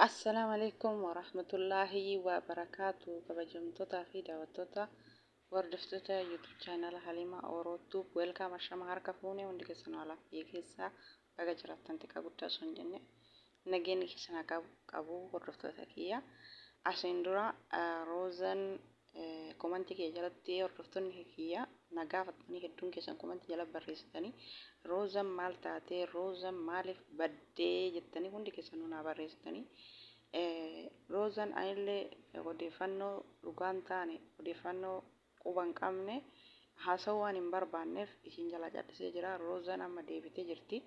Assalaamu alaikum warahmatullaahi wabarakaatu kabajamtootaa fi daawwattoota hordoftoota YouTube chaanala Halimaa Oro Tube welkaam ashama harka fuune hundi keessan haalaaf biyya keessaa baga jiraattan xiqqaa guddaa osoo hin jenne nageenyi keessan haa qabu hordoftoota kiyya asiin dura roozan Komanti kiyya jalatti hordoftonni kiyya na gaafatanii hedduun keessan komanti jala barreessitanii Roozan maal taatee Roozan maaliif baddee jettanii hundi keessanuu naa barreessitanii Roozan anillee odeeffannoo dhugaa hin taane odeeffannoo quba hin qabne haasa'uu waan hin barbaanneef isin jalaa callisee jira Roozan amma deebitee jirti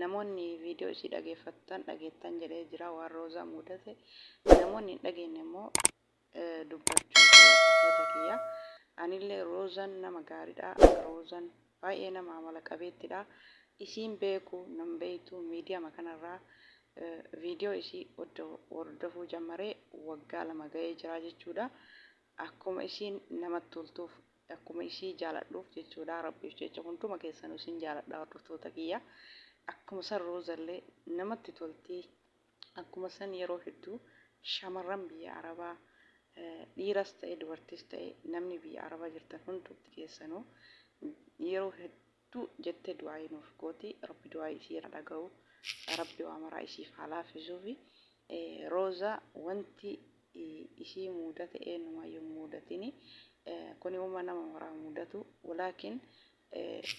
namoonni viidiyoo isii dhageeffattan dhageettan jedhee jira waan Roozaa mudate namoonni hin dhageenye immoo dubbachuuf hordoftoota kiyya. Anillee Roozan nama gaariidha. Roozan baay'ee nama amala qabeettidha. Isiin beeku nan beektu miidiyama kanarraa viidiyoo isii hordofuu jammaree waggaa lama ga'ee jira jechuudha. Akkuma isiin namatti toltuuf akkuma isii jaaladhuuf jechuudha rabbiif jecha hunduma keessanuu isin jaaladha hordoftoota kiyya. Akkuma san Roozallee namatti toltii Akkuma san yeroo hedduu shamarran biyya Arabaa dhiiras ta'e dubartis ta'e namni biyya Arabaa jirtan hundumti keessanuu yeroo hedduu jettee du'aayii nuuf gooti. Rabbi du'aayii isii haa dhagahu. Rabbi waa maraa isiif haa laafisuufi. Rooza wanti isii muudate eenyumaayyuu hin muudatini. Kuni uma nama maraa muudatu. Walaakin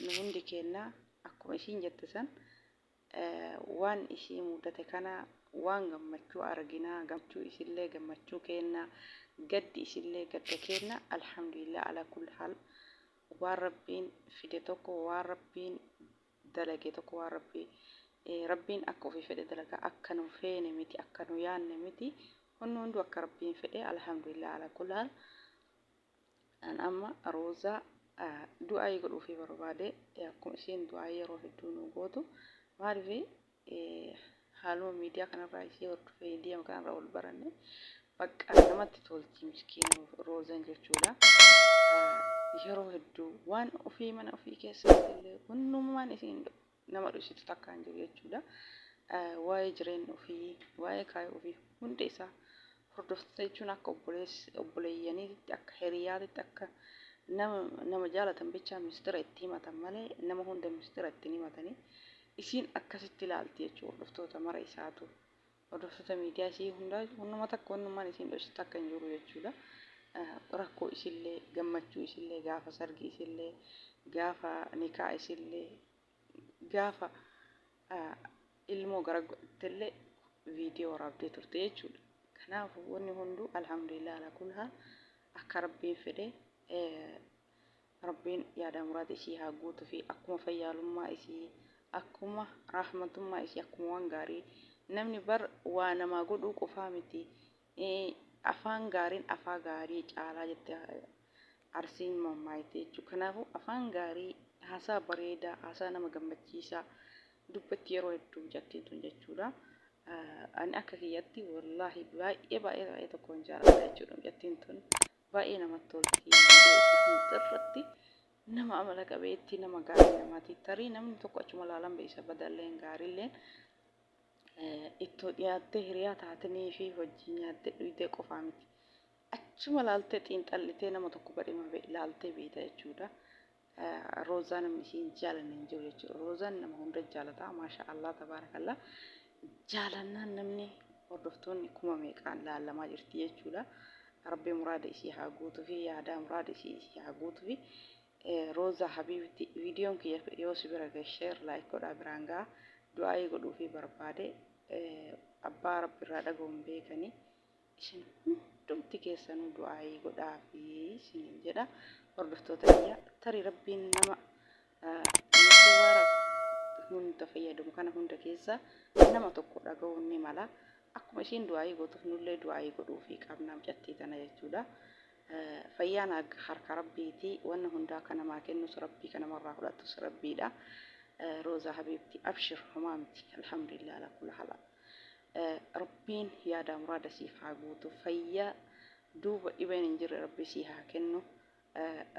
nu hundi keenna akkuma isiin jette san waan isii muudate kana waan gammachuu argina gammachuu isillee gammachuu keenna gaddi isillee gadda keenna alhamdulillah ala kulli haal waan rabbiin fide tokko waan rabbiin dalage tokko waan rabbi rabbiin akka ofii fedhe dalaga akka nu feene miti akka nu yaanne miti hunni hunduu akka rabbiin fedhe alhamdulillah ala kulli haal An amma Roozaa du'aayii godhuufii barbaade akkuma isheen du'aayii yeroo hedduu nuu gootu maaliif haaluma miidiyaa kanarraa ishee hordofee miidiyaa kanarraa wal baranne bakka namatti tolti miskiina Roozan jechuudha. Yeroo hedduu waan ofii mana ofii keessatti illee hundumaan isiin nama dhositu takka hin jiru jechuudha. Waa'ee jireenya ofii, waa'ee kaayoo ofii hunda isaa hordoftoota jechuun akka obboleeyyaniitti, akka hiriyaatitti, akka nama nama jaalatan bichaa mistira itti himatan malee nama hunda mistira itti hin himatanii. Isiin akkasitti ilaalti jechuudha hordoftoota mara isaatu. Hordoftoota miidiyaa isii hundaa wannuma takka wannummaan isiin dhoysitu takka hin jiru jechuudha. Rakkoo isillee gammachuu isillee gaafa sargii isillee gaafa nikaa isillee gaafa ilmoo gara godhattellee viidiyoo waraabdee turte jechuudha. Kanaafuu wanni hunduu alhamdulillah ala kulhaa akka rabbiin fedhe Rabbiin yaadaa muraada isii haa guutufii akkuma fayyaalummaa isii akkuma raahmatummaa isii akkuma waan gaarii namni bar waa namaa godhuu qofaa miti afaan gaariin afaa gaarii caalaa jette arsiin mammaayti jechuu kanaafuu afaan gaarii haasaa bareedaa haasaa nama gammachiisaa dubbatti yeroo hedduu jattiin tun jechuudha ani akka kiyyatti wallaahi baay'ee baay'ee baay'ee tokkoon jaaladha jechuudha jattiin tun baay'ee namatti tolti viidiyoo ishii hundda irratti nama amala qabeetti nama gaarii namaati tarii namni tokko achuma laalan beeysa badalleen gaariilleen ittoo dhiyaattee hiriyaa taatanii fi hojii nyaattee dhuydee qofaa miti achuma laaltee xiinxallitee nama tokko badhima laaltee beeyta jechuudha Roozaa namni ishii hin jaalanne hin jiru jechuudha. Roozaan nama hunda jaalataa maasha Allah tabaarakallaa jaalannaan namni hordoftoonni kuma meeqaan laallamaa jirti jechuudha. Rabbi muraada ishii haa guutuu fi yaadaa muraada ishii ishii haa guutuu fi Roozaa Habiibti viidiyoon kiyya yoo si bira gahe sheer laayik godhaa biraan gaha du'aayii godhuu fi barbaade abbaa rabbi irraa dhagahuun beekanii isin hundumti keessanuu du'aayii godhaafi isiniin jedha hordoftoota kiyya tarii rabbiin nama hunda fayyadamu kana hunda keessa nama tokko dhaga'uun ni mala akkuma ishiin du'aayii gootuuf nullee du'aayii godhuufii qabna mucattii tana jechuudha. Fayyaan harka rabbiiti wanna hundaa kan namaa kennus rabbii kan namarraa fudhatus rabbiidha. Roozaa habiibti abshir homaa miti alhamdulillah ala kula hala. Rabbiin yaadaa muraada siif haa guutu fayya duuba dhibeen hin jirre rabbii sii haa kennu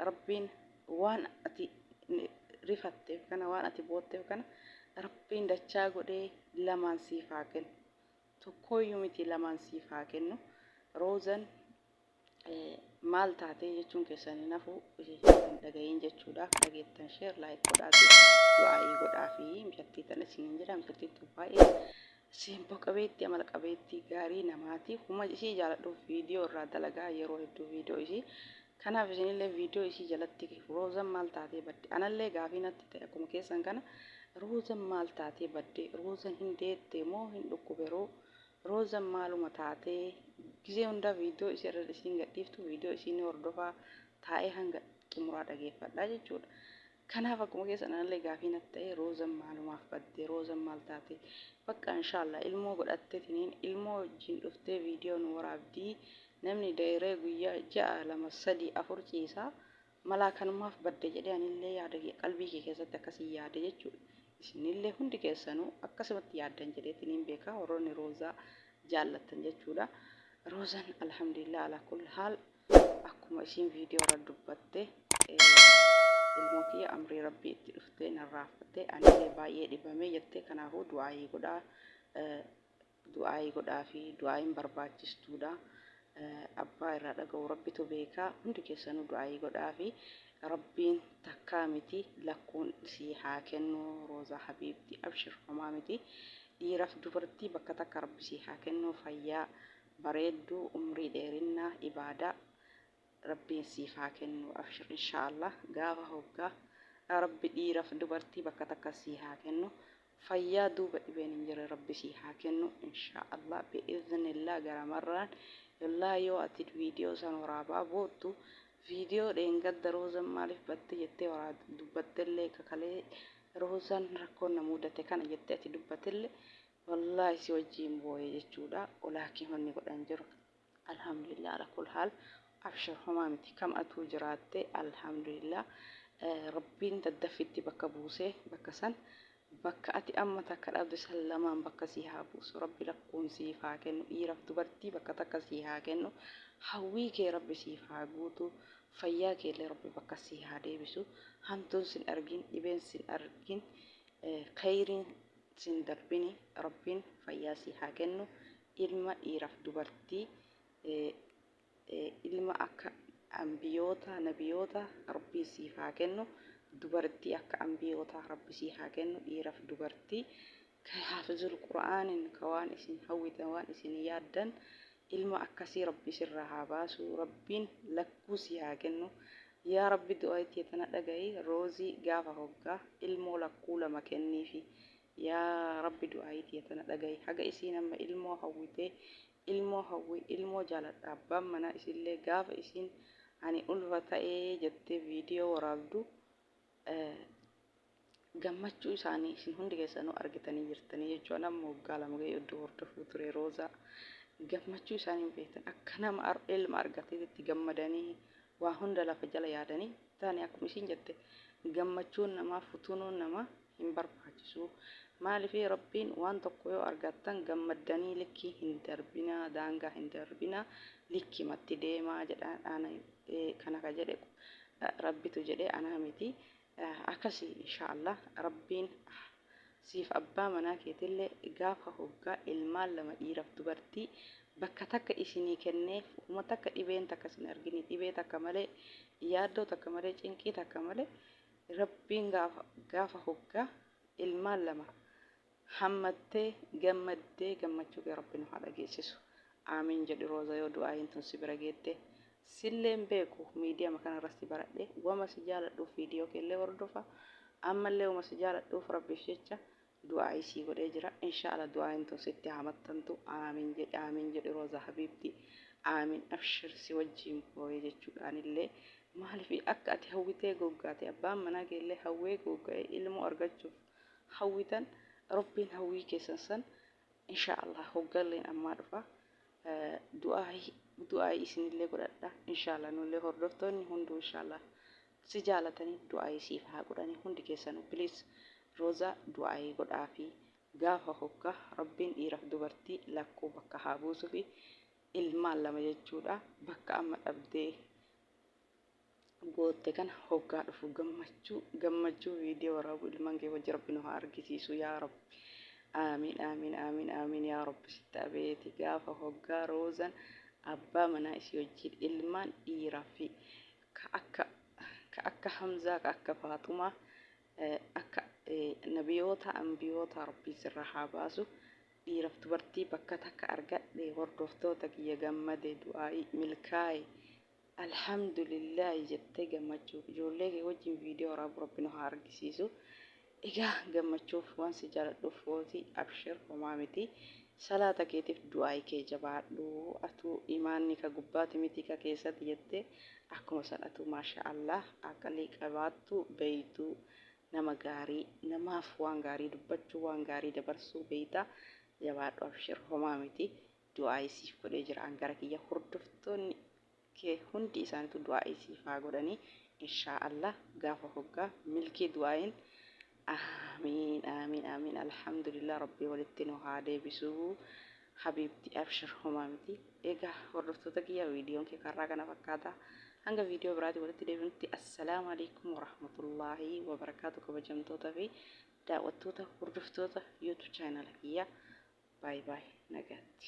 rabbiin waan ati rifatteef kana waan ati bootteef kana rabbiin dachaa godhee lamaan siif haa kennu tokkooyyuu miti lamaan siif haa kennu roozan maal taatee jechuun keessan hin hafu hin dhaga'iin jechuudha dhageettan sheer laayik godhaafi du'aayii godhaafi mucattii tan isiniin jedha mucattiin tun baay'ee simboo qabeetti amala qabeetti gaarii namaati huma isii jaaladhuuf viidiyoo irraa dalagaa yeroo hedduu viidiyoo isii kanaaf isinillee viidiyoo isii jalatti roozan maal taatee badde anallee gaafii natti ta'e akkuma keessan kana roozan maal taatee badde roozan hin deette moo hin dhukkuberoo Rozan maaluma taate gizee hundaa video isi irra isiin gadhiiftu video isii ni hordofa taa'ee hanga xumuraa dhageeffadha jechuudha kanaaf akkuma keessan anallee gaafii natti ta'e Rozan maalumaaf badde Rozan maal taate bakka inshallah ilmoo godhatte tiniin ilmoo wajjiin dhuftee video nu waraabdii namni da'iree guyyaa ja'a lama sadii afur ciisaa Malaa kanumaaf badde jedhee anillee yaada kiyya qalbii kiyya keessatti akkasiin yaade jechuudha. Isinillee hundi keessanuu akkasumatti yaaddan jedheetiniin beeka warroonni Roozaa jaallattan jechuudha. Roozan alhamdulillah ala kulli haal akkuma isiin viidiyoo irra dubbatte ilmoo kiyya amrii rabbii itti dhuftee narraa fudhattee anillee baay'ee dhibamee jettee kanaafuu du'aayii godhaa Du'aa'ii godhaafii du'aa'iin barbaachistuudha abbaa irraa dhaga'u rabbitu beeka hundi keessanuu du'aa'ii godhaafii rabbiin takkaa miti lakkuun sii haa kennu roozaa habiibti abshir homaa miti dhiiraf dubartii bakka takka rabbi sii haa kennu fayyaa bareeddu umrii dheerinna ibaadaa Rabbiin siif haa kennu abshir inshaa Allah gaafa hoggaa rabbi dhiiraf dubartii bakka takka sii haa kennu fayyaa duuba dhibeen hin jirre rabbi sii haa kennu inshaa Allah bi idhnillah gara marraan yollahi yoo ati video san waraabaa boottu video dheengadda roozan maalif batte jettee waraa dubbattellee ka kalee roozan rakkoon na muudate kana jettee ati dubbatelle wallahi si wajjiin booye jechuudha olaakii wanni godhan jiru Alhamdulillah ala kul haal abshir homaa miti kam atuu jiraatte alhamdulillah rabbiin daddaffitti bakka buuse bakka san bakka ati amma takka dhabde san lamaan bakka sii haa buusu rabbi lakkuun siif haa kennu dhiiraf dubartii bakka takka sii haa kennu hawwii kee rabbi siif haa guutu fayyaa keellee rabbi bakka sii haa deebisu hamtuun sin argin dhibeen sin argin kayriin sin darbini rabbiin fayyaa sii haa kennu ilma dhiiraaf dubartii ilma akka anbiyoota nabiyoota rabbiin siif haa kennu dubartii akka anbiyootaa rabbi sii haa kennu dhiiraaf dubartii ka haafizul qur'aanin ka waan isin hawwitan waan isin yaaddan ilma akkasii rabbi sirraa haa baasu rabbiin lakkuu sii haa kennu yaa rabbi du'aa itti tana dhaga'i roozii gaafa hoggaa ilmoo lakkuu lama kenniifi Yaa rabbi du'aa'ii tiyya tana dhagahi haga isiin amma ilmoo hawwite ilmoo hawwi ilmoo jaaladha abbaan manaa isiillee gaafa isiin ani ulfa ta'e jettee video waraabdu gammachuu isaanii isin hundi keessanuu argitanii jirtanii jechuudha namni waggaa lama ga'ee odduu hordofuu ture roozaa gammachuu isaanii hin beektan akka nama ilma argateetti gammadanii waa hunda lafa jala yaadanii taane akkuma isiin jette gammachuun namaa futuunuun namaa hin barbaachisu. Maaliif Rabbiin waan tokko yoo argattan gammaddanii likkii hin darbinaa, daangaa hin darbinaa, likkimatti deemaa jedha. Ana kana ka jedhe Rabbitu jedhe anaa miti. Akkasi inshaa Allah Rabbiin siif abbaa manaa keetillee gaafa hoggaa ilmaan lama dhiiraf dubartii bakka takka isinii kennee uma takka dhibeen takka isin argini dhibee takka malee yaaddoo takka malee cinqii takka malee Rabbiin gaafa gaafa hoggaa ilmaan lama hammattee gammaddee gammachuu kee rabbi nu haa dhageessisu aamiin jedhi rooza yoo du'aayiin tun si bira geette silleen beeku miidiyama kanarra si baradhe wama si jaaladhuuf viidiyoo keellee hordofa ammallee wama si jaaladhuuf rabbiif jecha Du'aa'ii sii godhee jira inshaala du'aa'iin tun sitti haa maxxantu aamiin jedhi aamiin jedhi roza habiibti aamiin abshir si wajjiin booye jechuudha anillee maaliif akka ati hawwitee googgaate abbaan manaa keellee hawwee googga'ee ilmoo argachuuf hawwitan rabbiin hawwii keessan san inshaa'allah hoggalleen ammaa dhufa du'aayi du'aayi isinillee godhadha inshaala nullee hordoftoonni hunduu inshaala si jaalatanii du'aayi siif haa godhanii hundi keessanuu please roozaa du'aayi godhaafi gaafa hoggaa rabbiin dhiiraf dubartii lakkuu bakka haa buusufi ilmaan lama jechuudha bakka amma dhabdee gootte kana hoggaa dhufu gammachuu gammachuu viidiyoo waraabu ilmaan kee wajji rabbi nu haa argisiisu yaa rabbi aamiin aamiin aamiin aamiin yaa rabbi sitti abeeti gaafa hoggaa roozan abbaa manaa isii wajjiin ilmaan dhiiraa fi ka akka ka akka hamzaa ka akka faaxumaa eh, akka eh, nabiyoota ambiyoota rabbii sirraa haa baasu dhiiraf dubartii bakka takka argadhe hordoftoota kiyya gammade du'aa'ii milkaa'e Alhamdulillahi jettee gammachuu ijoollee kee wajjin viidiyoo waraabu rabbi nu haa argisiisu. Egaa gammachuuf waan si jaaladhuuf footi abshir homaa miti. Salaata keetiif du'aayi kee jabaadhu. Atuu imaanni ka gubbaati miti ka keessati jettee akkuma san atuu maashaa Allah aqlii qabaattu beeytu nama gaarii namaaf waan gaarii dubbachuu waan gaarii dabarsuu beeyta jabaadhu abshir homaa miti. Du'aa'ii siif godhee jira an gara kiyya hordoftoonni kee hundi isaanitu du'aa'ii siif haa godhanii inshaa Allah gaafa hoggaa milkii du'aa'iin aamiin aamiin aamiin alhamdulillah rabbii walitti nu haa deebisuu habiibti abshir homaa miti egaa hordoftoota kiyya viidiyoon kee karraa kana fakkaata hanga viidiyoo biraatii walitti deebinutti assalaamu alaikum warahmatullaahi wabarakaatu kabajamtoota fi daawwattoota hordoftoota youtube chaanala kiyya Baay baay nagaatti.